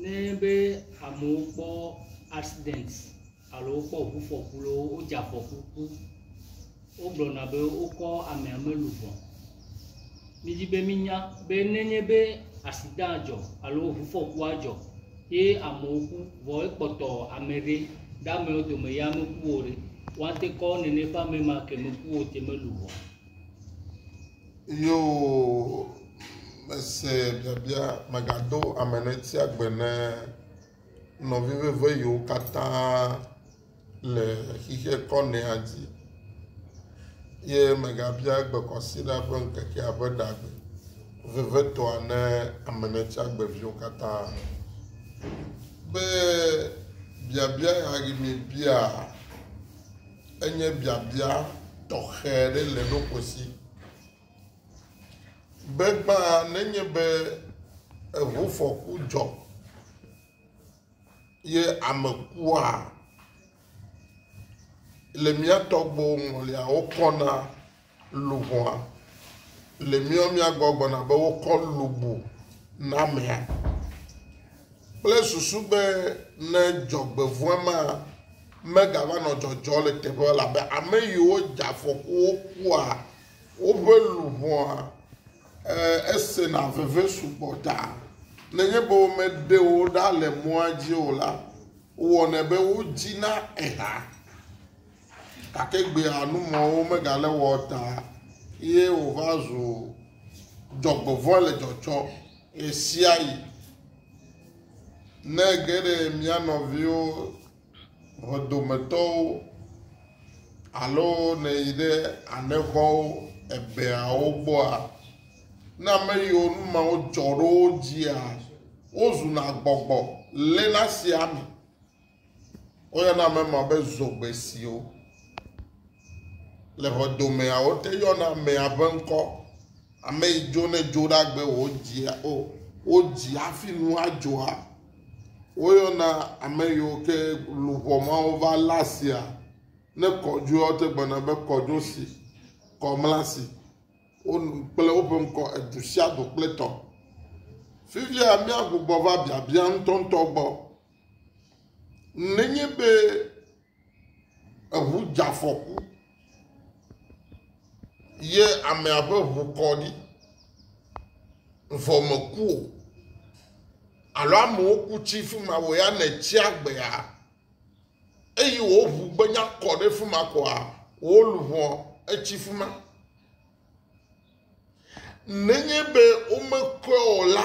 Ne enye be amewo kpɔ accident alo wokpɔ ŋufɔku loo wodze afɔku ku, wogblɔna be wokɔ amea melu vɔ. Midi be minya be ne enye be accident dzɔ alo ŋufɔkua dzɔ ye amewo ku vɔ ekpɔtɔ ame ɖe ɖe amewo dome ya meku o ɖe, woate kɔ nene ƒe ame ma ke meku o te melu vɔ. Yoo, mese biabia, mègado ame ɖe tia gbe ne nɔvi veve yiwo katã le xixe kɔ nɛa dzi. Ye mègabia gbekɔsiɖa ƒe ŋkekea ƒe ɖagbe vevetɔa ne ame ɖe tia gbe viwo katã. Be biabia ya yi mebia, Enye biabia tɔxɛ aɖe le ɖoƒo si be gbã nenye be eŋufɔku dzɔ ye ame kua, le mía tɔgbuiwo ŋɔliawo kɔna. luʋɔa le míɔ mía gbɔ gbɔna be wokɔ lu bu namea kple susu be ne dzɔgbevɔ̃e ma megava nɔ dzɔdzɔ le teƒe labe ame yiwo dze afɔkuwo kua woƒe luʋɔa esena veve sugbɔ ta. Nenye be womeɖe wo ɖa le mɔa dzi o la, wɔnɛ be wodzina eha. Gake egbea numɔ̃wo megale wɔ o ta ye wòva zu dzɔgbevɔ̃e le dzɔtsɔ ɣesiaɣi. Ne ege ɖe mía nɔviwo, ʋedometɔwo, alo nèyi ɖe anexɔwo, ebeawo gbɔa, ne ame yiwo nu mawo dzɔ ɖo wo dzia, wozuna gbɔgbɔ léna sia ame. Woyɔna ame ma be zogbesiwo. Le xɔdomea, wote yɔna amea ƒe ŋkɔ. Ame yi dzo ne dzo ɖagbe wodzia o. Wodzi hafi nu adzoa. Woyɔna ame yiwo ke luʋɔ mawo va la sia ne kɔdzoe wote gbana be kɔdzo si, kɔmla si. Wonu kple woƒe ŋkɔ edu sia du kple tɔ. Fifia míagbugbɔ va biabia ŋutɔŋutɔ gbɔ. Nenye be eŋu dze afɔku ye amea ƒe ŋu kɔ ɖi vɔ meku o alo amewo ku tsi fi ma wò ya nètsi agbea eye wò ŋu gbenya kɔ ɖe fi ma koa wò luʋɔ etsi fi ma. Nenye be womekɔe o la,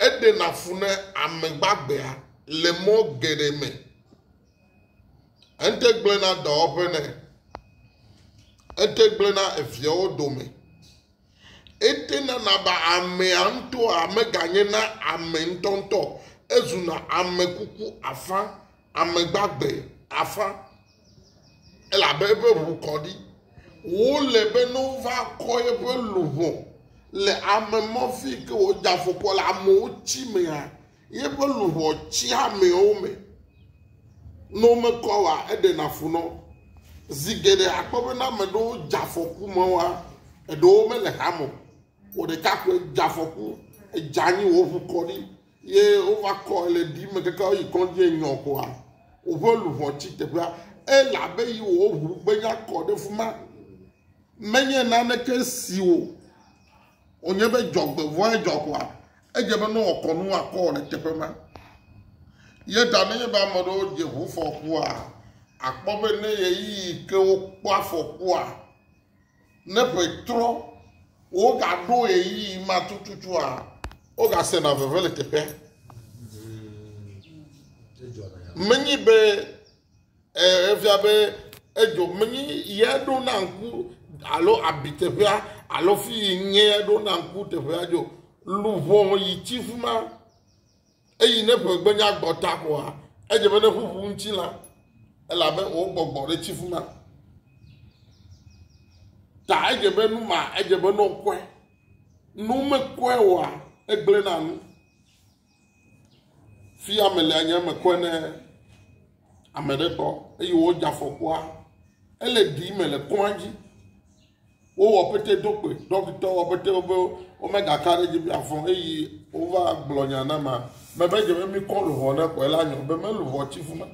Eɖena fu na ame gbagbeae le mɔ geɖe me. Ete gblẽna dɔwɔƒe nɛ. Ete gblẽna eviawo dome. Ete nana be amea ŋutɔa meganye na ame ŋutɔŋutɔ o. Ezuna ame kuku afã Ame gbagbe afã, elabe eƒe ʋu kɔ ɖi. Wole be ne wova kɔ eƒe luʋɔ le ame mɔ fi ke wòdze afɔkua le amewo tsi mea, yeƒe luʋɔ tsia amewo me. Ne womekɔ wa eɖena fu nɔ. Zi geɖe akpɔ be ne ame ɖewo dze afɔku me wa, eɖewo mele hame o. Wò ɖeka koe dze afɔku, edze anyi wò ʋu kɔ ɖi Ye wova kɔ ɣleti me keke woyi kɔdzi enyɔ ƒoa, woƒe luʋɔ tsi teƒea, elabe yi wò ʋu gbenya kɔ ɖe fuma. Menye naneke si wò wònye be dzɔgbevɔe dzɔ ƒoa, edze be ne wɔkɔ nu woakɔ wò le teƒe ma. Ye ta nenye be ame ɖewo dze ʋufɔkua, akpɔ be ne ɣeyiɣi ke wokpɔ afɔkua, Ne ƒe trɔ, wogaɖo ɣeyiɣi ma tututua, wogasena veve le teƒea. Menyi be eh, efia be edzo, menyi ye ɖo na ŋku alo abi teƒea alo fi yi nye ɖo na ŋku teƒea dzo. Luʋɔ yi tsi fi ma. Eyi ne ƒe gbenya gbɔ ta koa, edze be ne ƒuƒu ŋuti la, elabe wò gbɔgbɔ ɖe tsi ƒu na. Ta edze be nu ma, edze be ne wokɔe. Ne womekɔe oa, egblẽ na nu. Fi ame le anye eme kɔe ne ame ɖe kpɔ eye wodze afɔkua, ele ɖi me le kɔa dzi. Wowɔ pete do kpoe. Ɖɔkita wɔ pete be womegaka ɖe edzi be afɔ eyi wova gblɔ nya na ma. Mebe dze be mikɔ luʋɔ ne xɔe la nyɔ be meluʋɔ tsi fu ma.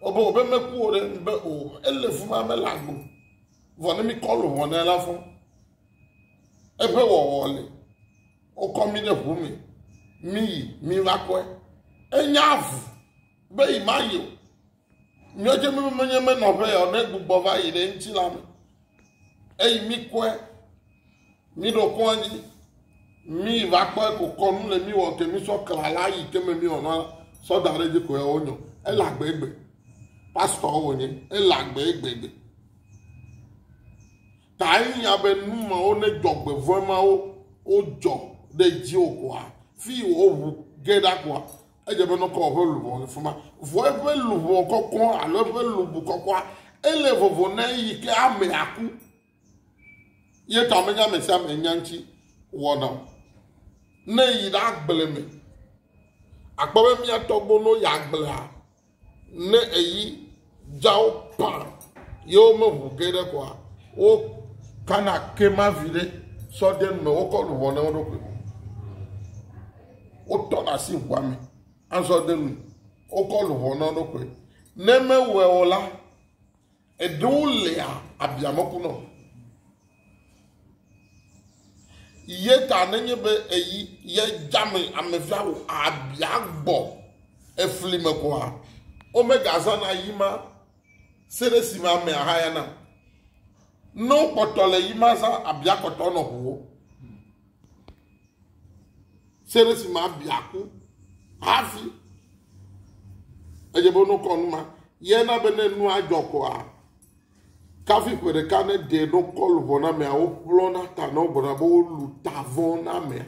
Wobe wobe meku o ɖe be o ele fu ma mele agbo. Vɔ ne mikɔ luʋɔ ne la fɔ. Eƒe wɔwɔ le. Wokɔ mi ɖe ʋu me. Mi yi mi va kɔe. Enya ʋu be yi ma yi o. Míedze mi be menye me nɔƒe ya ne gbugbɔ va yi ɖe ŋuti la me. Eyi mi kɔe, mi ɖo kɔ anyi, mi va kɔe ko kɔ nu le mi wɔ ke mi sɔ kla la yi ke me mi wɔ na sɔ da ɖe dzi ko ya wo nyɔ. Ele agbe egbe. Pastɔ wo nye. Ele agbe egbe egbe. Ta enya be nu mawo ne dɔgbe vɔe mawo wo jɔ ɖe dzi o koa fi wo ʋu ge ɖa koa Edze be nɔkɔ wɔ eƒe luʋɔ le fima. Vɔ eƒe luʋɔ kɔkɔ alo eƒe lubu kɔkɔa, ele vovo na eyi ke amea ku. Ye ta menye ame sia ame nya ŋuti wɔna o. Ne yi ɖe agble me, akpɔ be mía tɔgbuiwo ne woyi agblea, Ne eyi dzawo pã ye womeŋu ke ɖe koa, wokana ke ma viɖe sɔ de nu me, wokɔ luʋɔ na wo ɖokui. Wotɔ ɖe asi ʋua me azɔ de nu, wokɔ luʋɔ na wo ɖokui. Ne mewɔe o la, Eɖewo lea abiameku nɔ ye ta nenye be eyi ye dzame amevia wò abia gbɔ efli me koa, womegazãna yi ma se ɖe esime ame ahaya na. Ne wokpɔtɔ le yi ma zã abiakpɔtɔ nɔ ʋuwo. Se ɖe si ma bia ku hafi edze be wonokɔ nu ma. Ye na be ne nua dzɔ koa, kafi ƒe ɖeka ne ɖe ɖo kɔ luʋɔ na mea, woƒlɔ na ta na wogblɔna be wolu ta vɔ na mea.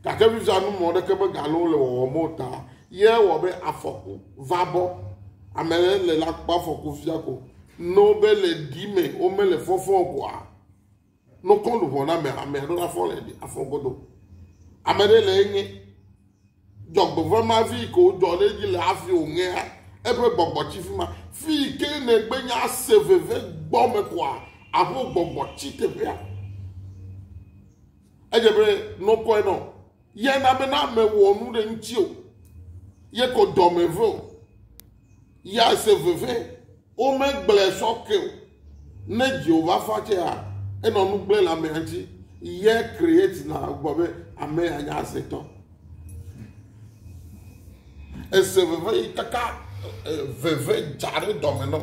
Gake vivia nu mɔ ɖeke be galo le wɔwɔ mo ta. Ye wɔ be afɔku va bɔ. Ame le la kpɔ afɔku fia ko. N'o be le ɖi me, wome le fɔfɔ koa, Nokɔ luʋɔ na amea, amea ɖo la fɔ le ɖi afɔ godo. Ame ɖe le eŋe. Dzɔgbevɔe ma vi yi ke wodɔ ɖe edzi le afi wòŋea, eƒe gbɔgbɔ tsi fi ma. Fi yi ke nègbe nya ase veve gbɔ me koa, aƒo gbɔgbɔ tsi teƒea. Edze be nokɔe nɔ. ye na be na ame wɔ nu ɖe ŋuti o ye ko dɔme ve o ya se veve womegblẽ sɔ ke o ne Jehovah fa tse ya enɔ nu gblẽ le amea ŋuti ye create na gbɔ be ame ya nya asetɔ ese veve yi kaka veve dza ɖe dɔme nɔ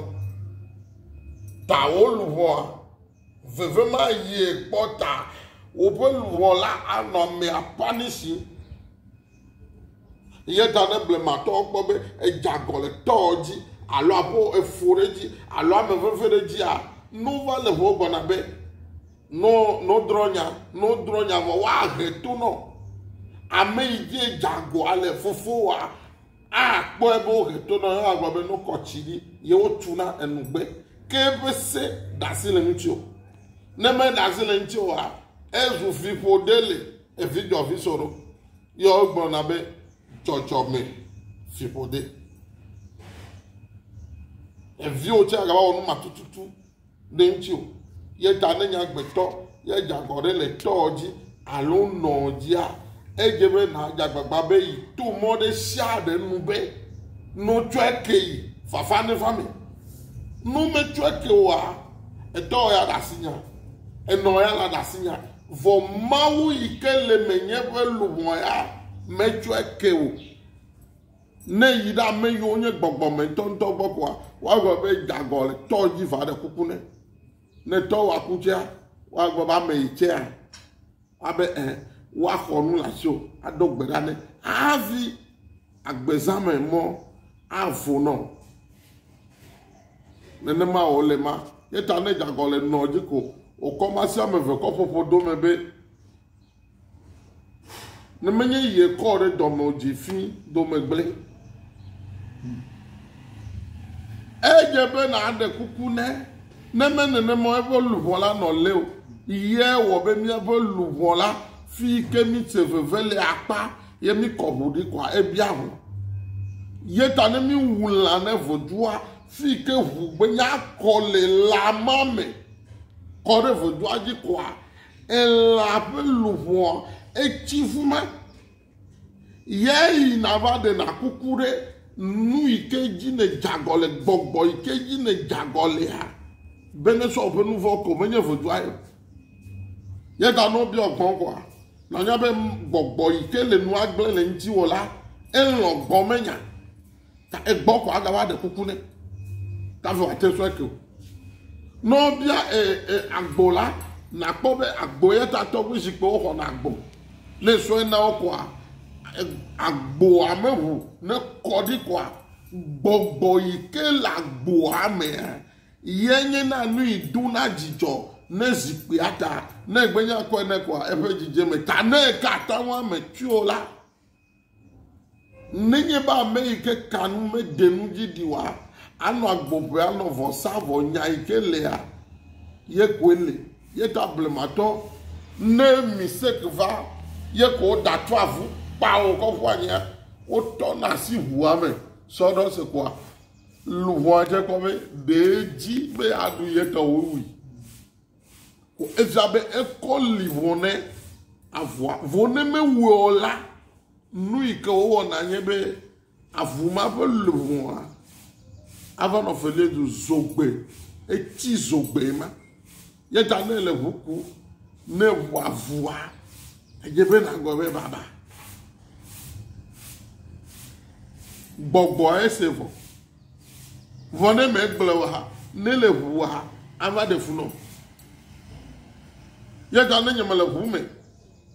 ta wo luʋɔa Veve ma yie kpɔ ta woƒe luʋɔ la anɔ amea ƒani si. Ye ta ne blematɔwo kpɔ be edze agɔ le tɔwo dzi alo aƒo efo ɖe edzi alo ame veve ɖe edzia, no va le ho gbɔna be, no, no drɔ nya, no drɔ nya vɔ woahe to nɔ ame yi dzi edze agɔa le, fofowoa. Akpɔe be wohe to na wo eye agblɔ be no kɔ tsi ɖi yewo tu na enugbe ke eƒe se ɖasi le ŋuti o. Ne me ɖasi le ŋuti oa, ezu fiƒo ɖe le evi dɔ vi so ɖo. Yɔ wogblɔ na be dzɔdzɔ me fiƒo de. Eviwo tse agava wɔ nu ma tututu. ɖe ŋuti o. Ye ta ne nye agbetɔ ye dze agɔ ɖe le tɔɔ dzi alo nɔɔ dzia, edze be nàdze agbagba be yi to mɔ ɖe sia ɖe nu be no tsɔe ke yi fafa neva me. No metsɔe ke oa, etɔɔ ya ɖe asi nya, enɔɔ ya la ɖe asi nya, vɔ Mawu yi ke le menye ƒe luʋɔ ya metsɔe ke o. Ne yi ɖe ame yiwo nye gbɔgbɔ me ŋutɔŋutɔ gbɔ koa, woagblɔ be gagɔ le tɔ dzi va ɖe kuku ne. Ne tɔ wa kutsea, woagblɔ be ame yi tsea, abe ɛ, eh, woaxɔ nu le asi o, ado gbe ɖa ne havi agbezãme mɔ avo nɔ. Nenema o le ma. Yeta ne gagɔ le nɔ dzi ko, wòkɔ ma si ame eve kɔ ƒoƒo dome be. Ne menye yie kɔ ɖe dɔme o dzi fi dome gblẽ. Edze be nàɖe kuku ne ne me nenema eƒe luʋɔ la nɔ lé o. Yie wɔ be míaƒe luʋɔ la fi ke míte veve le akpa ye míkɔ ʋu ɖi kɔa ebia ʋu. Ye ta ne míwu lã ne vodua fi ke ʋu gbenya kɔ le lã ma me kɔ ɖe vodua dzi kɔa Elã ƒe luʋɔa etsi ƒu me. Yae yina va ɖena kuku ɖe nu yi ke dzi nedze agɔ le, gbɔgbɔ yi ke dzi nedze agɔ lea, be nesɔ woƒe nu vɔ̃ ko, menye ʋedua ye o. Ye ta ne wobiɔ gbɔ̃ koa, nànya be gbɔgbɔ yi ke le nua gblẽ le ŋutiwò la, elɔ̃ gbɔ̃menya. ta egbɔ ko ada wa ɖe kuku ne ta vɔ ate sɔ ke o nɔ bia e e agbo la nakpɔ be agbo yɛ ta tɔ ƒe zikpɔ xɔ na agbo ne sɔ na wo kɔa agbo ame ʋu ne kɔ ɖi kɔa gbɔgbɔ yi ke le agbo ame yɛ nye na nu yi do na dzidzɔ ne zikpui ata ne gbenya kɔe ne kɔa eƒe dzidzeme ta ne ka ta wa me tso la. Nenye be ame yi ke ka nu mede nu dzi ɖi oa, anɔ agbo ƒe anɔ vɔ sa vɔ nya yi ke lea, ye koe li. Ye ta blematɔ ne mistake va ye ko woɖa tu avu kpa wò kɔ ƒu anyia, wotɔ na asi ʋua me sɔ ɖɔ se kpoa luʋɔa dze kpɔ be ɖe edzi be aɖu ye tɔ wowui. Ko edzra be ekɔ li vɔ ne avua. Vɔ ne mewɔe o la, nu yi ke wowɔna nye be avu ma ƒe luʋɔa ava nɔ felia du zogbe. Etsi zogbe ma. Ye ta ne le ʋu ku ne ʋu avua, edze be nagblɔ be baba. Gbɔgbɔ ese vɔ. Vɔ ne megblẽ o ha, ne le ʋu o ha, ava ɖe fu nɔm. Ye ta ne nye mele ʋu me,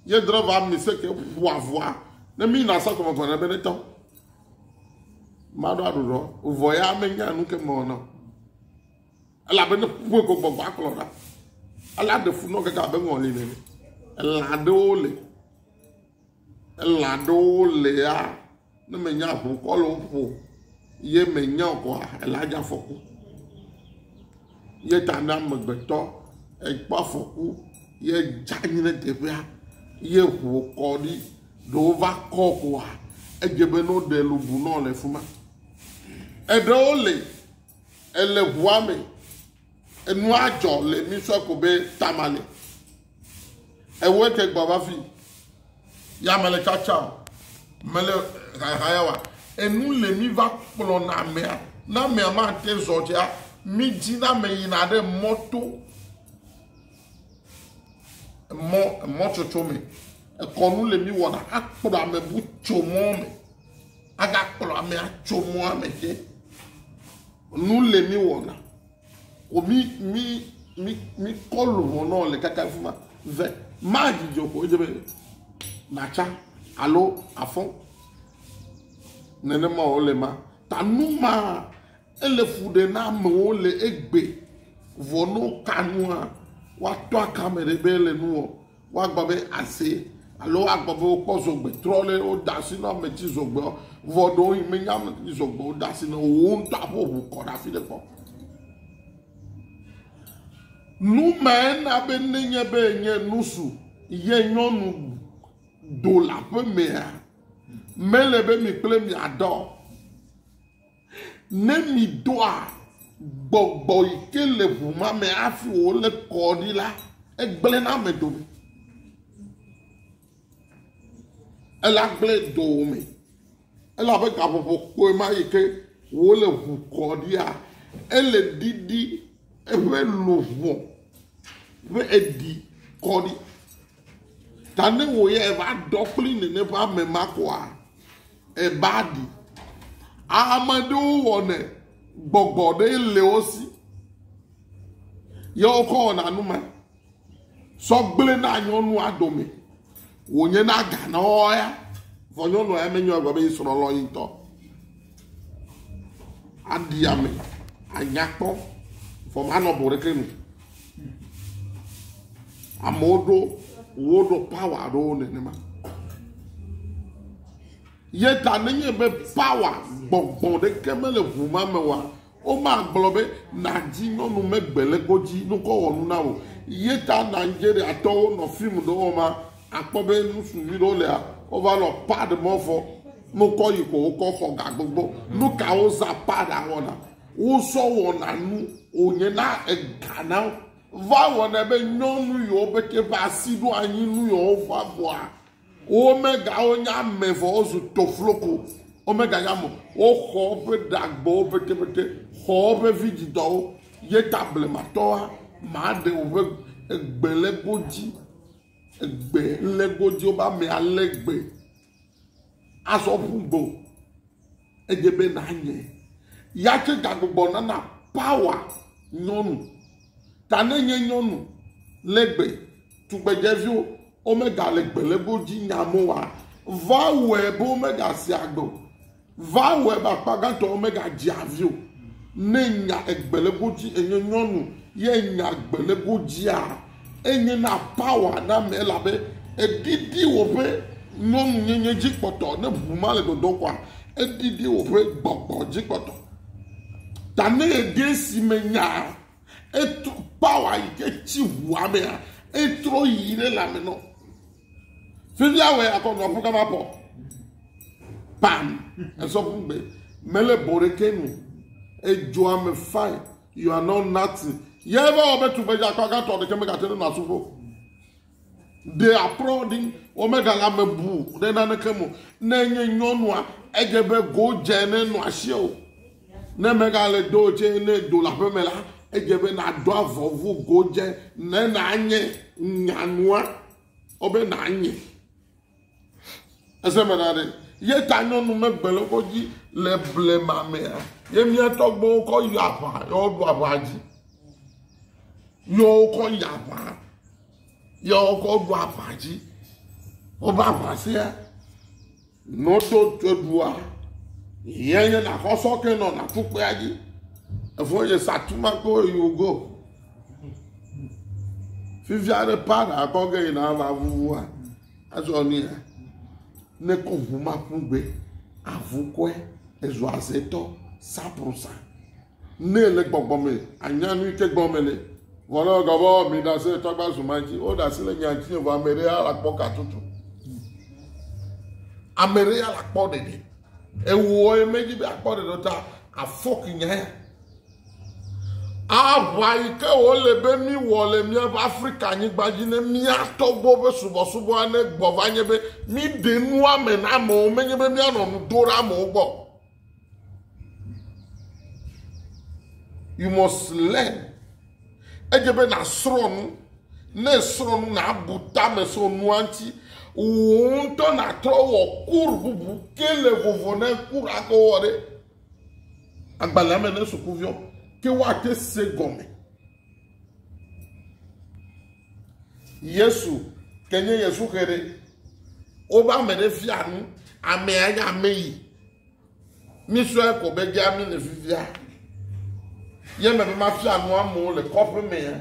ye drɔva mi se ke ƒua ʋua, ne mi na sɔ kɔmɔ vɔ ne be ne tɔ. Maɖo aɖuɖɔ, vɔ ya me nya nu ke mɔ nɔ. Ela be ne ƒue ko gbɔgbɔ akplɔ ɖa. Ela ɖe fu nɔ keke abe ŋɔli nene. Ela ɖewo le. Elã aɖewo lea ne menye aʋukɔ le wo ƒo ye menye o koa elã dze afɔku. Ye ta ne amegbetɔ ekpɔ afɔku ye edze anyi ɖe teƒea ye ŋu kɔ ɖi ɖe wova kɔ koa edze be ne woɖe lu bu nɔ le fi ma. Eɖewo le ele ŋua me. Enua dzɔ le mi sɔ ko be tama le. Ewe ke gbɔ va fi. Ya mele tsatsa o. Mele haya wa. Enu le mi va kplɔ na mea. Na mea ma te zɔ tsea. Mi dzi na me yina ɖe mɔ to. Mɔ, mɔ tsotso me. Ekɔnu le mi wɔna. Akplɔ ame bu tso mɔ me. Aga kplɔ ame atso mɔ ame ke. Nu le mi wɔna. O mi mi mi mi kɔlu hɔnɔ le kaka fi ma. Ve ma dzidzɔ ko edze be natsa alo afɔ. Nenema wo le ma. Ta nu ma ele fu ɖe na amewo le egbe. Vɔ no ka nua woatɔ akame ɖe be ele nu wɔ. Woagbɔ be ase alo woagbɔ be wokpɔ zogbe trɔ le wode asi na ame tsi zogbeɔ, vɔ ɖewohĩ menye ame tsi zogbe wode asi na wò ŋutɔ aƒe ŋu kɔ ɖe afi ɖe kpɔ. Nu mae na be nenye be nye nusu ye nyɔnu do le aƒe mea, mele be mi kple miaɖe o. Ne mìdoa gbɔgbɔ yi ke le ʋu ma me hafi wòle kɔ ɖi la, egblẽna ame dome. Ele agblẽ dome. Elabe gaƒoƒo kpɔe ma yi ke wòle ʋu kɔ ɖia, ele ɖiɖi eƒe luʋɔ ƒe eɖi kɔ ɖi. Ta ne wò ya èva ɖɔ kpli nène ƒe ame ma koa, eba ɖi. Ame ɖewo wɔnɛ gbɔgbɔ ɖe le wo si. Yewo kɔ wɔna nu ma. Sɔ gblẽ na nyɔnu adome. Wònye na gana wɔya. Vɔ nyɔnu ya menyɔ egbe be yi srɔ̃ lɔ yi ŋutɔ. aɖi ame, anya kpɔ, vɔ manɔ bɔ ɖeke nu. Amewo ɖo woɖo pawa aɖewo nenema. Ye ta nenye be pawa gbɔgbɔ ɖeke mele ŋu ma me oa, Womagblɔ be, Nàdi nyɔnu megbe le kpo dzi nukɔwɔnu na wò. Ye ta Nigeriatɔwo nɔ fim ɖe wɔma akpɔ be nusu nyui ɖewo lea, wova nɔ pad mɔ vɔ nukɔ yi ko wokɔ xɔ ga gbogbo. Nu ka wozã pad awɔna? Wozɔ wɔna nu wònye na ega na wo. Va wɔnɛ be nyɔnu yiwo pɛtɛ ƒe asi ɖo anyi nu yiwo vɔa vɔa Womegao nya ame vɔ wozu tofloko, womeganya ame o. Woxɔ woƒe ɖagbewo petepete, xɔ woƒe vidzidɔwo, ye ta blematɔa maɖe woƒe gbelégo dzi, gbe légo dzi, woƒe ame alé gbe azɔ ƒu gbe o. Edze be nanye ya tse gagbugbɔ nana power nyɔnu. Ta ne nye nyɔnu le gbe, tugbedzeviwo omega le gbe le bo dzi nya mo wa, va wɛ bo omega se agbe o. Va wɛ be akpa gãtɔ omega dzi avi o. Ne nya egbe le bo dzi enye nyɔnu ye nya gbe le bo dzia, Enye na power na ame elabe eɖiɖi woƒe nyɔnunyenye dzi kpɔtɔ. Ne ʋu ma le dɔdɔm koa, eɖiɖi woƒe gbɔgbɔ dzi kpɔtɔ. Ta ne eɖe esi me nyaa, etrɔ power yi ke tsi ʋua mea, etrɔ yi ɖe lãme nɔ. Fifi awɔe akɔ nɔƒu kama pɔ. Pam, esɔ ƒugbe. Mele bɔ ɖeke nu. Edzɔa me fine. You are not nothing. Yɛ va wɔ be tugbedza kɔ agatɔ ɖeke megate ɖe nasu ƒo. They are prodding. Womegale ame bu ɖe naneke mo. Ne nye nyɔnua, edze be go dze ne nɔ asie o. Ne megale do tse ne do le aƒeme la, edze be nado avɔvu go dze ne nanye nyanua. Wobe nanye. Ese me na ɖe. Ye ta nyɔnu megbe le woƒe dzi le blema mea. Ye mía tɔgbuiwo kɔ yi aʋa, ye woɖu aʋa dzi. Ye wokɔ yi aʋa, ye wokɔ ɖu aʋa dzi. Woƒe aʋa sia, nɔto ɖua, ye nye nakɔ sɔke nɔ natukpea dzi. Efo ye sa tuma ko yi wogo. fifia ɖe para kɔ ge yina ava vuvua azɔ nia ne kɔ ʋu ma ƒu gbe avu kɔe ezu azetɔ saprosa ne le gbɔgbɔ me anya nu yi ke gbɔ me le vɔlɔ gɔbɔ mi da se tɔgba zuma dzi wo da se le nya dzi vɔ ame ɖe ala kpɔ katutu ame ɖe ala kpɔ ɖeɖe ewɔ ye me dzi be akpɔ ɖeɖe ta afɔk nya ya. Aʋa yi ke wòle be míwɔ le míaƒe Afrikanyigba dzi ne mía tɔgbuiwo ƒe subɔsubɔa negbɔ va nye be míɖe nua me na amewo, menye be míanɔ nu do ɖe amewo gbɔ. You must learn. Edze be nàsrɔ̃ nu. Ne èsrɔ̃ nu, nàbu tame so nua ŋuti. Wò ŋutɔ nàtrɔ wɔ kur bubu ke le vovo na kura ke wowɔ ɖe. agbalẽa me ne sukuviwo ke woate se gɔme. Yesu, ke nye Yesu xe ɖe, wobe ame ɖe fia nu, amea nye ame yi. Mísɔe ko be gea mi le fifia. Ye me be mafia nu amewo le kɔƒe mea.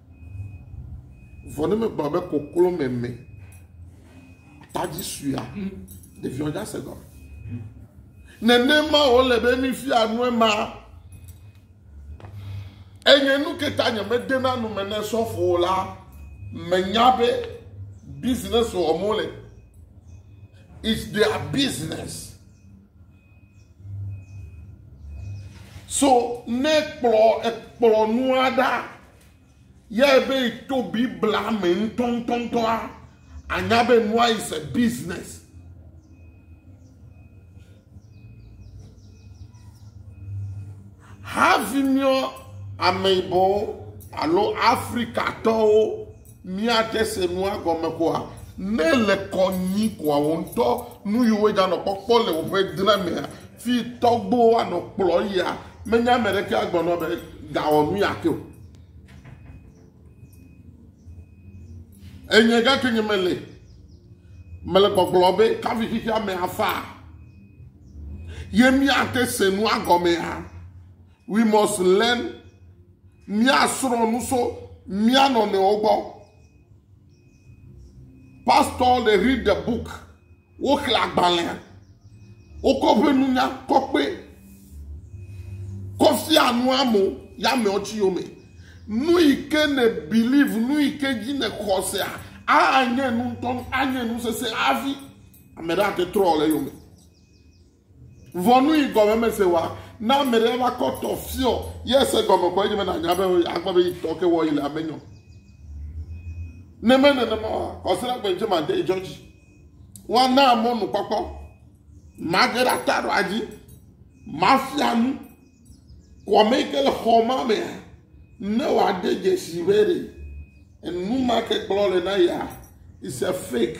Vɔ ne megblɔ be koklo meme, atadzi suea, ɖeviwo dza se gɔme. Nenema wòle be mifia nu ema. Enye nu ke ta nyemedena nu me ne sɔfo la menya be business wɔm wole. It's their business. So ne kplɔ ekplɔ nua ɖa yɛ be to Biblia me ŋutɔŋutɔŋutɔa, anya be nua is a business. Havi míɔ ameyibɔwo alo Afrikatɔwo Míate se nua gɔme koa? Ne le kɔ nyui koa wò ŋutɔ nu yi woe ganɔ kpɔkpɔ le woƒe dra mea, fi tɔgbo woanɔ kplɔ yia, menye ame ɖeke agblɔ nɔ be gawɔ nu ya ke o. Enye gake nye mele, mele gbɔgblɔ be kafi xexea me afa ye míate se nua gɔmea? We must learn. Míasrɔ̃ nu so mía nɔnɔewo gbɔ. Pastor, they read the book. Woxlẽ agbalẽa. Wokɔ ƒe nunya kɔkpe. Kɔfia nu amo ya mewo tsi yome. Nu yi ke ne believe, nu yi ke dzi ne xɔsea, anye nu ŋutɔ, anye nu sese hafi ame ɖe ate trɔ le yome. Ʋɔnui gɔmemese wa, ne ame ɖe va kɔ tɔ fiɔ, ye se gɔme kɔ edzi be nanya be akpɔ be yi tɔ ke wɔ yi le ame nyɔ. Ne me nenema wa, kɔsira gbe ŋtse ma de jɔ dzi. Wa na ame nu kpɔkpɔ, ma ge ɖa ta ɖo adzi, ma fia nu, kɔme ke le xɔ ma mea, ne wa de jesi be re, enu ma ke kplɔ le na ya, is a fake.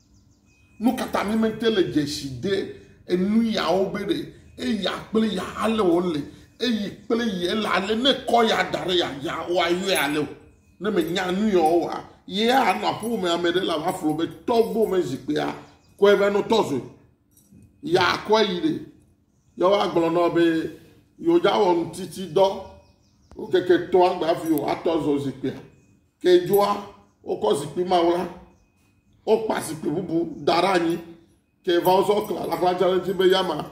Nukata mi me te le dzesi de enu yawo be ɖe eya kple ya ale wo le eyi kple ye le ale ne kɔ ya da ɖe ya dza wo a yɔe ale o ne me nya nu ya wo a ye a nɔ aƒe me ame ɖe la va flo be tɔgbo me zikpea kɔe va no tɔzɔe ya kɔe yi ɖe ya wo a gblɔ nɔ be yo dza wɔ nu titi dɔ wo keke tɔa gba fi o a tɔzɔ zikpea ke dzoa wo kɔ zikpi ma wo la Wokpa zikpui bubu da ɖe anyi. Ke va wozɔ kla laxladza ɖe edzi be yama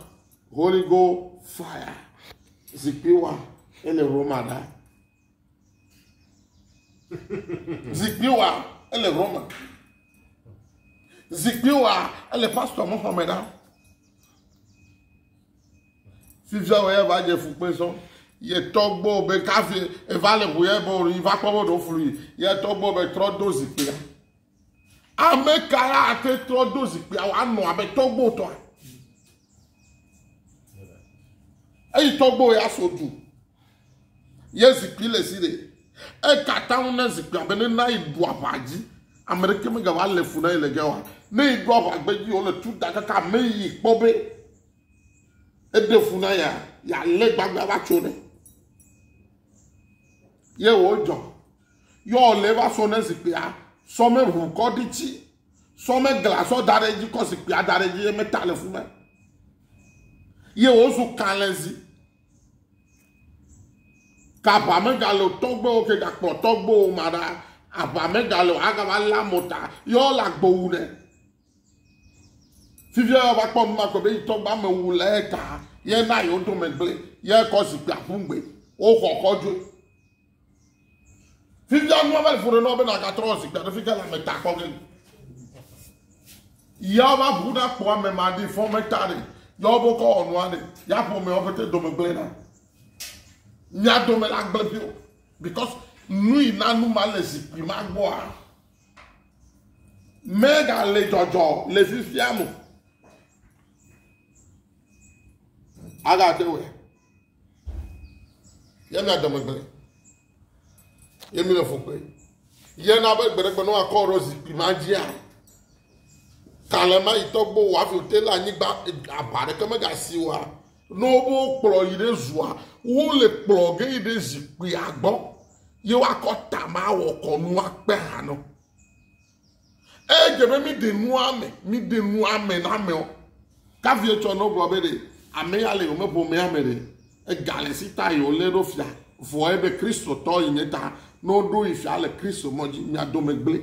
Holy Go fire. Zikpui wa ele Roma ɖa. Zikpui wa ele Roma. Zikpui wa ele pastor mo xɔme ɖa. fifia wɔ ya va dze fu kpe sɔ yɛ tɔgbɔ be kafi eva le ŋu yɛ bɔ yi va kpɔ bɔ ɖo flu yi yɛ tɔgbɔ be trɔ do zikpia ame ka ya ate trɔ do zikpia wa nɔ abe tɔgbɔ tɔa eyi tɔgbɔ ya so du Ye zikpui le si ɖe. Eka taŋu na zikpuia be ne na yi ɖu aʋa dzi. Ame ɖeke megava le fu na yi le ge wa. Ne yi ɖu aʋa gbe dzi wole tu da kaka ame yi kpɔ be eɖe fu na ya, ya le gbagba va tso ne. Ye wo dzɔ. Yɔ le va so ne zikpuia sɔ me ʋu kɔ ɖi tsi. Sɔ me gla sɔ da ɖe dzi kɔ zikpuia da ɖe dzi ye me ta le fu na. Ye wo zu kalɛzi. Ke aʋa megale o, tɔgbewo ke gakpɔ tɔgbewo ma ɖa, aʋa megale o, agava lé amewo ta ye wole agbo wu nɛ. Fifia ye wova kpɔ nu ma kpɔ be yi tɔgbe ame wu le eta ye na yewo dome gblẽ ye kɔ zikpui aƒu ŋgbe woxɔ xɔdzoe. Fifia nua va le ƒo ɖe nɔa be nàgatrɔ zikpui aɖe fi ke le ame ta kpɔ ge. Yawo va ʋu na kpɔ ame ma ɖi fɔ me ta ɖe. Yawo bo kɔ wɔ nua ɖe. Ya ƒo me wɔƒete dome gblẽ na. Mia dome la gblẽ pio. Because nui na nu ma le zikpui ma gbɔa. Mega le jɔjɔ le fifia mo. Aga te wɛ. Yɛ na dɔmegble. Yɛ mi le fukpe. Yɛ na be gbeɖegbe ne woakɔ ɖe zikpui ma dzia. Kalema yi tɔgbo wɔ afi wote le anyigba aba ɖeke megasi wa. Ne wobe kplɔ yi ɖe zua, wo le kplɔ ge yi ɖe zikpuia gbɔ. Ye woakɔ tama wɔ kɔnu akpe hanɔ. Edze be míɖe nu ame, míɖe nu ame na amewo. Kavi etsɔ ne wogblɔ be ɖe ame ya le yome ƒomea me ɖe ega le si ta yi wolé ɖo fia vɔe be Kristotɔ yi nye ta ne woɖo yi fia le Kristo mɔ dzi mia dome gblẽ.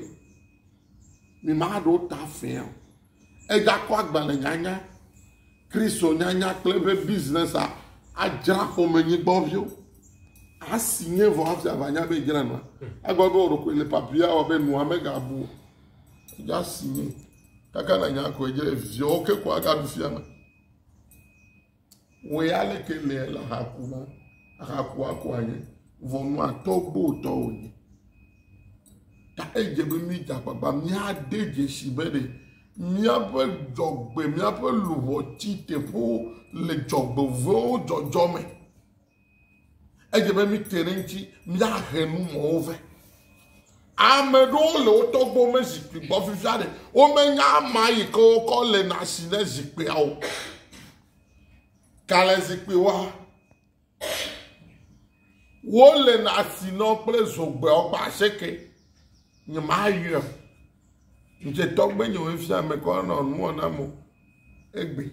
Mi maɖo ta fẽe o. Egakɔ agbalẽ nyanya, Kristo nyanya kple eƒe biznɛsa adzra xɔmenyigbɔviwo. Asi nye vɔ hafi avanya be edzra nua. Agba be wò ɖokui le papia wɔ be nua megabu o. Nya asi nye. Kaka nanya koe dze viawo ke ko agaɖu fia me. Wɔ ya leke le le haku ma. Haku aku anye. Vɔnua tɔ gbɔ tɔ wonye. Ta edze be mi da gbagba mi ade dzesi be ɖe miaƒe dzɔgbe miaƒe luʋɔ ti teƒewo le dzɔgbevewo dzɔdzɔ me. Edze be míte ɖe eŋuti míahe nu mɔwo vɛ. Ame ɖewo le wo tɔgbuiwo me zikpui gbɔ fifia ɖe womenya ama yi ke wokɔ le na si ne zikpuia o. Gale zikpuiwoa, wole na si nɔ kple zogbeawo kple aseke. Nye maa yɔ. Nje tɔgbe nye wo fia me kɔ nɔ nuwɔ na mo. Egbe.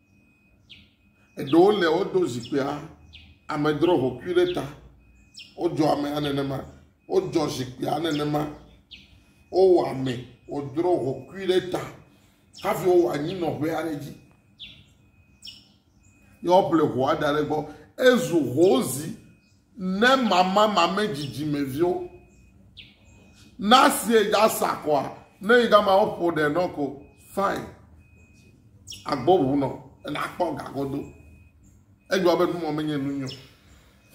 Eɖewo le wodo zikpuia amedro ʋɔtru ɖe ta. Wodzɔ amea nenema. Wodzɔ zikpuia nenema. Wowɔ ame wodro ʋɔtrui ɖe ta hafi wowɔ anyinɔƒe aɖe edzi. Ne woƒle ʋɔa da ɖe egbɔ ezu hozi. Ne mama mame dzidzimeviwo na sie ya sa kɔa ne yi gama wo ƒo ɖe nɔ ko fine agbo ʋu nɔ ena kpɔ gagodo egba be numɔ menye nu nyɔ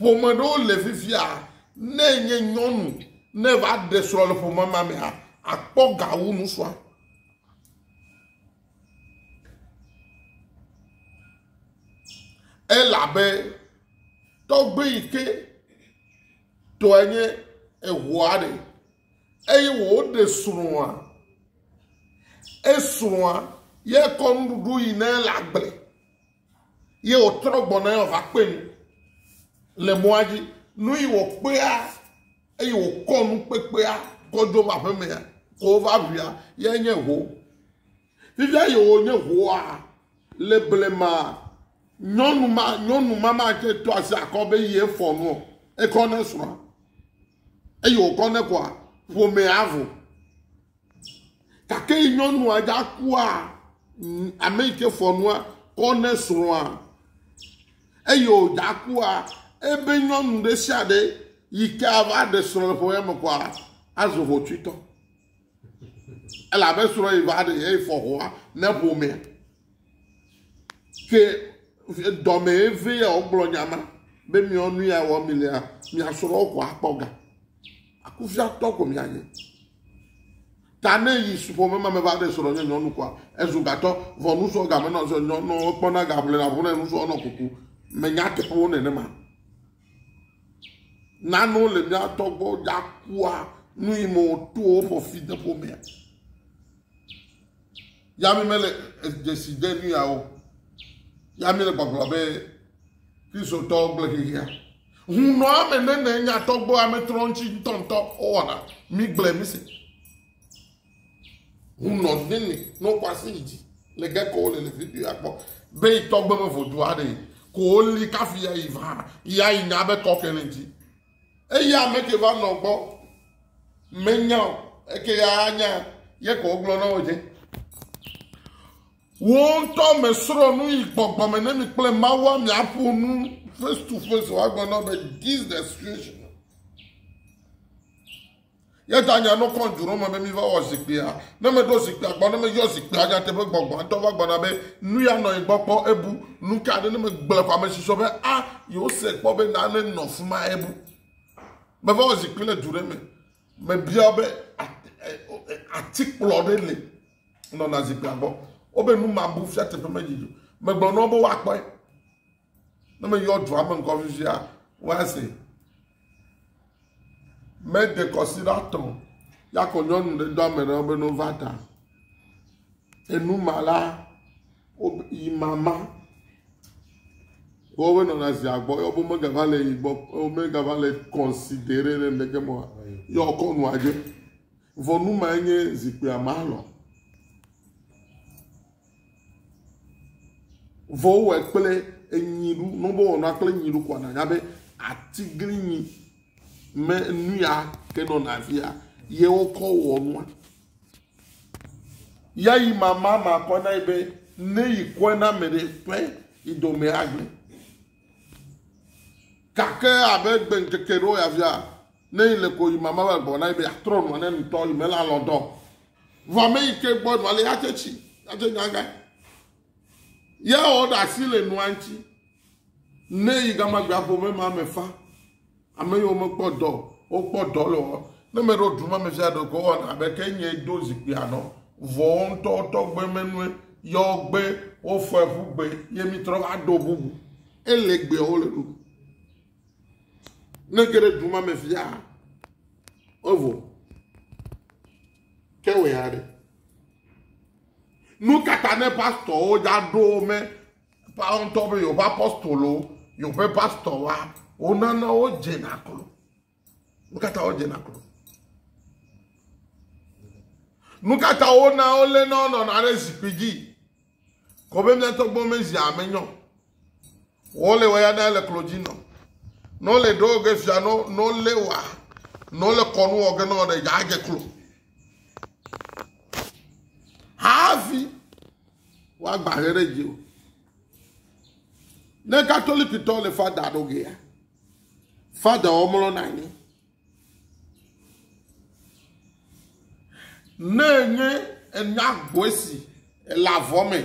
ƒome ɖewo le fifia ne nye nyɔnu ne va ɖe srɔ̃ le ƒome ma mea akpɔ gawu nusua Elabe tɔgbui yi ke tɔe nye eŋua ɖe eye wòɖe srɔ̃a, esrɔ̃a yekɔ nuɖuɖu yi ne le agble Ye wòtrɔ gbɔna eye wòva kpe nu le mɔa dzi. Nu yi wòkpea eye wòkɔ nu kpekpea kɔ dzo va aƒemea ko wova ʋuia yae nye ho. Fifia yi wònye hoa le blema nyɔnu ma nyɔnu ma ma tse to asi akɔ be yi efɔ nu o. Ekɔ ne srɔ̃a eye wòkɔ ne koa ƒomea avu. Gake nyɔnua dza kua ame yi ke fɔ nua kɔ ne srɔ̃a eye wòdza kua ebe nyɔnu ɖe sia ɖe yi ke ava ɖe srɔ̃ le ƒe me kɔa azu hotsuitɔ elabe srɔ̃ yi va ɖe eye fɔ hoa ne ƒomea. Ke dɔmee vɛ ya wogblɔ nya ma be miɔ nu ya wɔ mi lea, mia srɔ̃wo ko akpɔ ga. Akufiatɔ ko mianye. Ta ne yi ƒome ma me va ɖe srɔ̃ nye nyɔnu koa, ezu gatɔ, vɔ nusrɔ̃ game nɔ srɔ̃ nyɔnu kpɔna ga ʋlɛ na ʋlɛ nusrɔ̃ nɔ kuku. Menya teƒewo nenema. Nanewo le mia tɔgbɔ ya kua nu yi mo to woƒe fi de ƒomea. Ya mi mele dzesi de nu yawo. Ya mi le gbɔgblɔ be Kristotɔ gblẽ xexea. Hunɔ ame nene nyatɔgbɔ ame trɔ ŋuti ŋutɔŋutɔ wowɔna. Mi gblẽ mi se. Hunɔ nene no kwasi dzi le geko le le video ya kpɔ. Be tɔgbe me vodu aɖe ko li kafi ya yi va ya yi nya be kɔke le ŋuti. Eya ame ke va nɔ gbɔ menya o eke ya anya ye ko wogblɔ na wo dze. Wo ŋutɔ me srɔ̃ nu yi gbɔgbɔ me ne mi kple Mawu miaƒo nu face to face woagblɔ na be this the situation. Ye ta nya nɔkɔ ŋdzu ɖo me be mi va wɔ zikpuia. Ne me ɖo zikpuia gbɔ, ne me yɔ zikpuia nyateƒe gbɔgbɔ ŋtɔ va gbɔna be nu ya nɔ yi gbɔ kpɔ ebu. Nu ka ɖe ne me gblɔe ko ame si sɔ be a yewo se kpɔ be na ne nɔ fima ebu. Me va wɔ zikpui le du ɖe me. Me bia be atikplɔ ɖe le nɔna zikpuia gbɔ. Wo be nu ma bu fia teƒe me dzi. Me gblɔ nɔ be woa kpɔe. Ne meyɔ dua me ŋkɔ fifia, woase. Mede kɔsiɖatɔ ya kɔ nyɔnu ɖe do ame ɖewo be no va ta. Enuma la, yi mama. Wobe nɔna zia gbɔ, yɔ bo megava le yi gbɔ, megava le kɔnsidere ɖe ŋdeke mɔ, yɔ kɔ nua dze. Vɔ numa enye zikpuia ma lɔ. Vɔ wowɔe kple enyi ɖu. Ne wobewɔ nua kple enyi ɖu koa, nànya be atiglinyi me nu ya ke nɔna afia ye wokɔ wɔ nua. Ya yi mama ma kɔ na yi be ne yi kɔe na ame ɖe ƒe yi dɔme agblẽ. Gake abe gbe ŋkeke ɖewo ya fia, ne yi le ko yi mama va gbɔ na yi be atrɔ nua ne nutɔ yi mele alɔ dɔ. Vɔ ame yi ke gbɔ nua le ya tse tsi, ya tse nya gã. Ya wɔ ɖe asi le nua ŋuti. Ne yi gama gbea ƒome ma me fa. Ame yiwo mekpɔ dɔ o, wokpɔ dɔ le wɔ. Ne me ɖo duma me fia ɖe ko wɔna abe ke nye do zikpui anɔ. Vɔ wo ŋutɔ wotɔ gbe menue. Yɔ gbe wofɔe ƒu gbe ye mi trɔ va do bubu. Ele gbeawo le ɖo. Ne ge ɖe duma me fia, evo kɛwɛ aɖe. Nu kata ne pastɔwo dza ɖo me pawɔntɔ be yewoƒe apostolo, yewoƒe pastɔ wa, wonana wo dzena klo. Nu kata wo dzena klo. Nu kata wona wo lé na wonɔna ɖe zikpui dzi. Kɔbe miatɔ gbɔ me zi ame nyɔ. Wɔ le waya da le klo dzi nɔ. Nɔ le ɖo ge fia nɔ nɔ le wa nɔ le kɔnu wɔ ge nɔ ɖe ya ge klo. Hafi wa gba he ɖe dzi o. Ne katolikitɔ le fada ɖo ge ya. Fada wo mlɔ na anyi. Ne enye ena gbɔe si ele avɔ me,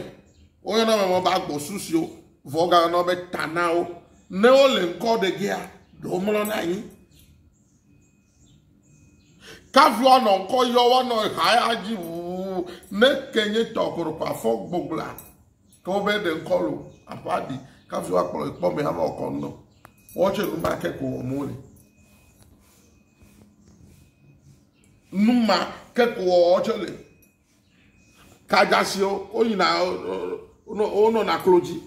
woyɔna ame be agbɔsu siwo vɔ gayɔna be tanawo. Ne wole ŋkɔ ɖe gea, ɖewo mlɔna anyi. Kafi woanɔ ŋkɔ yɔ woanɔ ha ya dzi ʋuu ne ke nye tɔkɔrɔkɔ afɔ gbɔgblɔa. Ke wo be ɖe ŋkɔ lo, aƒa ɖi, kafi wa kplɔ ekpɔ me hama ɔkɔ ŋnɔ. Wɔ tse nu ma ke ko wɔ mo le. Nu ma ke ko wɔ tse le. Kajasi o, o yina o nɔ na klo dzi.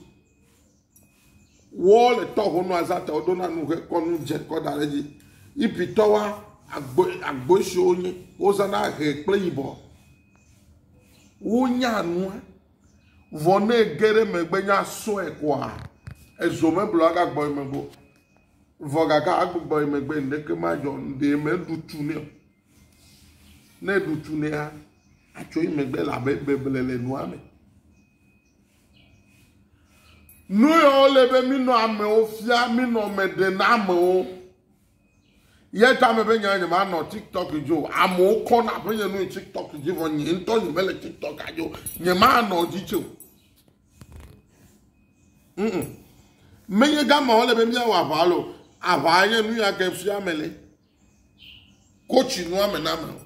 Wɔ le tɔ ho nu azata o do na nu he kɔ nu dze kɔ da le dzi. Ipi tɔ wa agbo agbo esi o nye o zana he kple yibɔ. Wo nya nua. Vɔ ne ege ɖe eme be nya sɔe koa, ezo meblu agagbɔ ye megbe o. Vɔ gake agbugbɔ ye megbe ŋɖeke madzɔ o, ɖee meɖu tu nɛ o. Ne eɖu tu nɛa, atso ye megbe elabe beble le nua me. Nu yawo le be minɔ amewo fia, minɔ me ɖem na amewo. Ye tame be nye nyemanɔ TikTok dzi o. Amewo kɔna ƒenye nu yi TikTok dzi vɔ nye ŋutɔ nyemele TikTok dzi o. Nyemanɔ dzi tse o. Mm. Menye gama wole be míawɔ aʋa lo. Aʋa nye nu ya ke fia me le. Kotsi nua me na me o.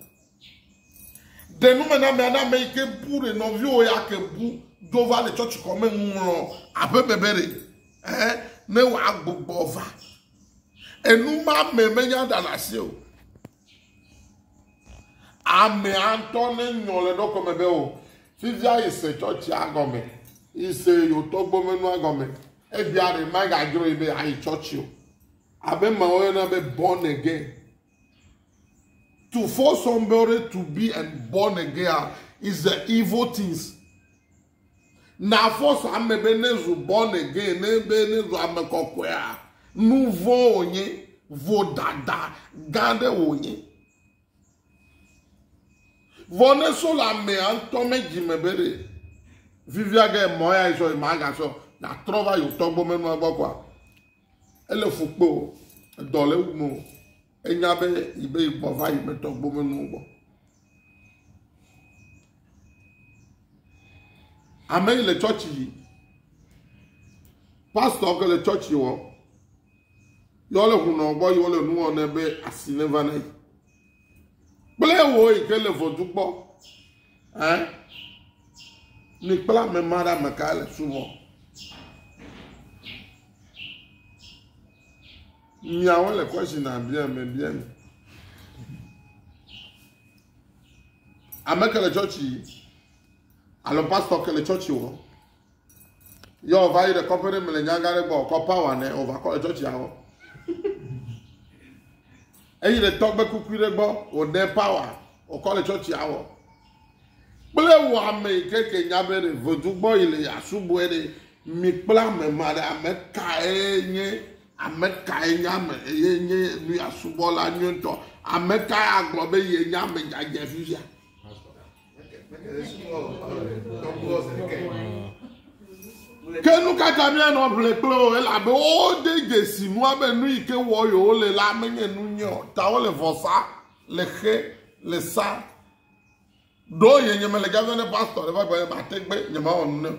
Ɖe nu me na me na me yi ke bu ɖe nɔviwo ya ke bu do va le tsɔtsi kɔme ŋlɔ aƒe bebe ɖe. Eh, ne wòagbugbɔ va. Enu ma ame menya ɖa le asi o. Ame antɔ ne nyɔ le ɖokɔ me be o. Oh, fifia yi se tsɔtsi agɔme, yi se yo tɔgbo menu agɔme. Ebia ɖe ma gadzro yi be ayi tsɔtsi o. Abe ma woyɔna be born again. To force somebody to be and born again is the evil things. Na force ame be ne zu born again ne be ne zu ame kɔkɔea nu vɔ wònye vodada gã ɖe wònye. Vɔ ne so le amea ŋutɔ me dzi me be ɖe vivia ge mɔ ya sɔ ma ga sɔ na trɔ va yotɔ gbɔ menua gbɔ kɔa ele fukpo dɔ le wu mo. Enya be yi be yi gbɔ va yi metɔ gbomenuwo gbɔ. Ame yi le tsɔtsi yi. Pastɔ ke le tsɔtsi wɔ. Yɔ le hunɔ gbɔ yi wole nuwɔ ne be asi ne va ne yi. Kple wo yi ke le vɔdu gbɔ. Eh? Ni kpla me ma ɖe ame ka le suvɔ. Miawo le kɔshi na bia me bia mi. Ame ke le tsɔtsi alo pastɔ ke le tsɔtsi wɔ. Yɔ ɔva yi ɖe kɔƒe ɖe me le nyaga ɖe gbɔ kɔ pawa nɛ ova kɔ le tsɔtsi awɔ. Eyi ɖe tɔgbe kukui ɖe gbɔ wòɖe pawa wòkɔ le tsɔtsi awɔ. Kple wɔ ame yi ke ke nya be ɖe vodu gbɔ yi le asubɔe ɖe mi kple ame ma ɖe ame kae nye Ame kae nye ame eye nye nu ya subɔla nyuitɔ? Ame kae agblɔ be ye nye ame dzadzɛ fifia? Ke nu ka ta míanɔ ʋle kple wo? Elabe wode dzesi nua be nu yi ke wɔ yewo le la menye nu nyui o. Ta wole vɔsa, le xe, le sa. Ɖo nye nyemele dzadzɛ ne pastor ɖe va gblɔ be mate gbe nyemawɔ nu ne o.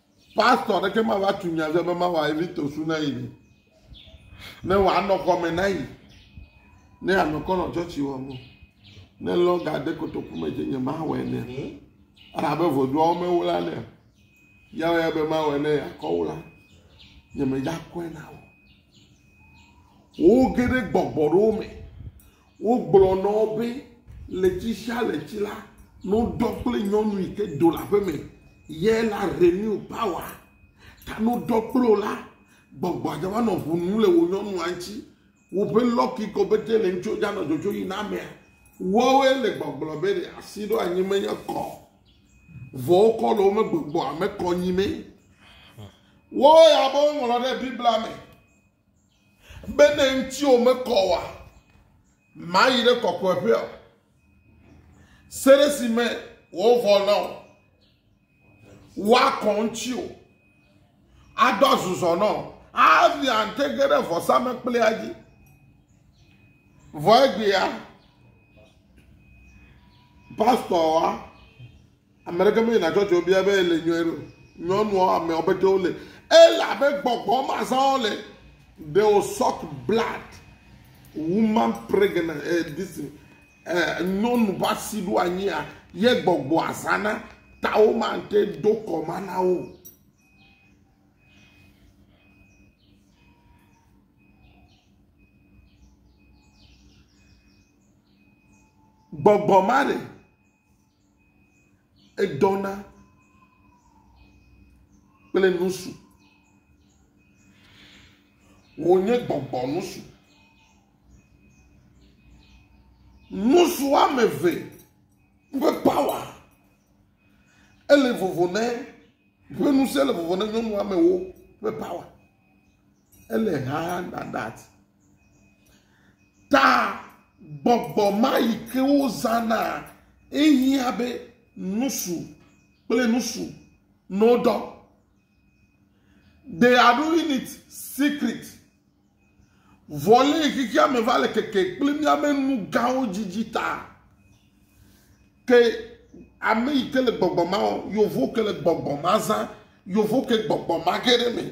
Pastor ɖeke ma va tu nya ze be ma wa evi tosu na yi ne. Ne wa nɔ kɔme na yi. Ne ya nɔ kɔnɔ chɔchi wa mo. Ne lɔ ga de kotoku me je nye ma wɛ ne. Ara be vodua wo me wo la ne. Ya wɛ be ma wɛ ne ya kɔ wo la. Nye me ja kɔe na wo. Wo gede gbɔgbɔ ro me. Wogblɔ na wo be, Ɣleti sia ɣleti la, nudɔ kple nyɔnu yi ke do le aƒe me ye la renew power. Ta nudɔ kple wo la, gbɔgbɔa dza va nɔ ŋu num le wò nyɔnua ŋuti. Woƒe lock yi ke wobe te le ŋuti dza nɔ dzodzo yi na amea. Woawoe le gbɔgblɔ be ɖe asi ɖo anyi menye kɔ o. Vɔ wokɔ le wo me gbɔgbɔa me kɔ nyi mee. Woawoe abe woŋlɔ ɖe Biblia me Be ne ŋutiwò mekɔ oa, màyi ɖe kɔkɔeƒea o. Se ɖe si me wòvɔ na wò, woakɔ ŋutiwò, ado azuzɔ na wò, avi ante ge ɖe vɔsamlekpuia dzi. Vɔ egbea, pastor wa. Ame ɖeke meyina tsɔtsi o bia be ele nyɔe ɖo. Nyɔnuɔ ame ɔbe ke wole. Ele abe gbɔgbɔ ma zã wole. They will suck blood. Woman pregnant eh, this eh, nyɔnu ƒe asi ɖo anyia ye gbɔgbɔa zãna ta wo mate do kɔ ma na wo. Gbɔgbɔ ma ɖe Edɔna kple nusu. Wò nye gbɔgbɔ nusu. Nusu woame eve ƒe pawa ele vovo ne, ƒe ŋusẽ le vovo ne nyɔnu woame ewo ƒe pawa. ele Haarhagdadad. Ta gbɔgbɔ ma yi ke wozãna ehiã be nusu kple nusu no dɔ. They are doing it secret. Vɔle xexea me va le keke kple míaƒe nu gãwo dzidzi ta. Ke ame yi ke le gbɔgbɔ ma, yovo ke le gbɔgbɔ ma zã, yovo ke gbɔgbɔ ma ge ɖe me.